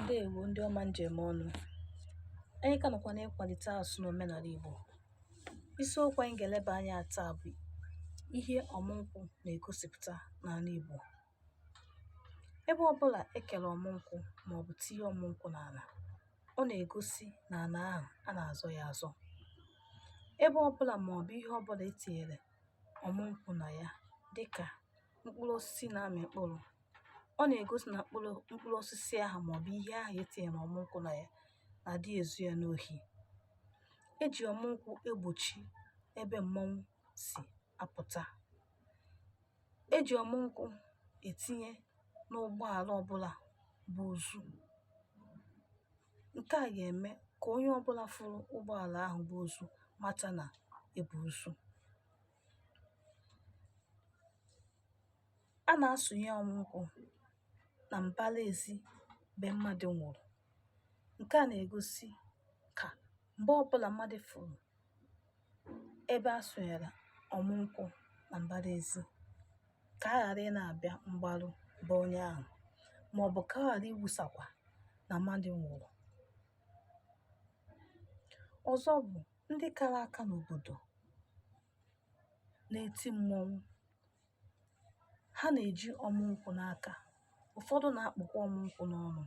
ndewo ndị ọma njem ọnụ anyị ka nọkwa n'ịkwalite asụsụ na omenala Igbo isiokwu anyị ga-eleba anya taa bụ ihe ọmụnkwụ na-egosipụta n'ala Igbo ebe ọbụla ekere ọmụnkwụ maọbụ tinye ọmụnkwụ n'ala ọ na-egosi na ala ahụ a na-azọ ya azọ ebe ọbụla maọbụ ihe ọbụla etinyere ọmụnkwụ na ya dịka mkpụrụ osisi na-amị mkpụrụ ọ na-egosi na mkpụrụ mkpụrụ osisi ahụ maọbụ ihe ahụ etinyere ọmụ nkwụ na ya na adị ezu ya n'ohi e ji ọmụ nkwụ egbochi ebe mmọnwụ si apụta e ji ọmụ nkwụ etinye n'ụgbọala ọbụla bu ozu nke a ga-eme ka onye ọbụla fụrụ ụgbọala ahụ bu ozu mata na ebu ozu A na-asụnye ọmụ nkwụ na mbara ezi be mmadụ nwụrụ. Nke a na-egosi ka mgbe ọbụla mmadụ fụrụ ebe a sụnyere ọmụ nkwụ na mbara ezi ka a ghara ị na-abịa mgbarụ be onye ahụ maọbụ ka a ghara ikwusakwa na mmadụ nwụrụ. Ọzọ bụ ndị kara aka n'obodo na-eti mmọnwụ ha na-eji ọmụ nkwụ n'aka ụfọdụ na-akpụkwa ọmụ nkwụ n'ọnụ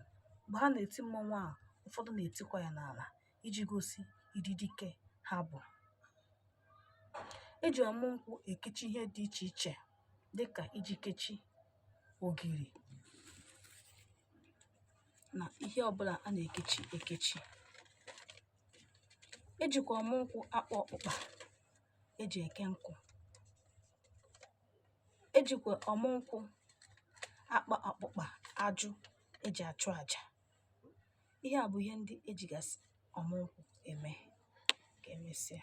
mgbe ha na-eti mmọnwụ ahụ ụfọdụ na-etikwa ya n'ala iji gosi ụdị dike ha bụ e ji ọmụ nkwụ ekechi ihe dị iche iche dịka iji kechi ogiri na ihe ọbụla a na-ekechi ekechi ejikwa ọmụ nkwụ akpa ọkpụkpa eji eke nkụ ejikwa ọmụ nkwụ akpa ọkpụkpa ajụ eji achụ aja ihe a bụ ihe ndị ejigasị ọmụ nkwụ eme ka emesịa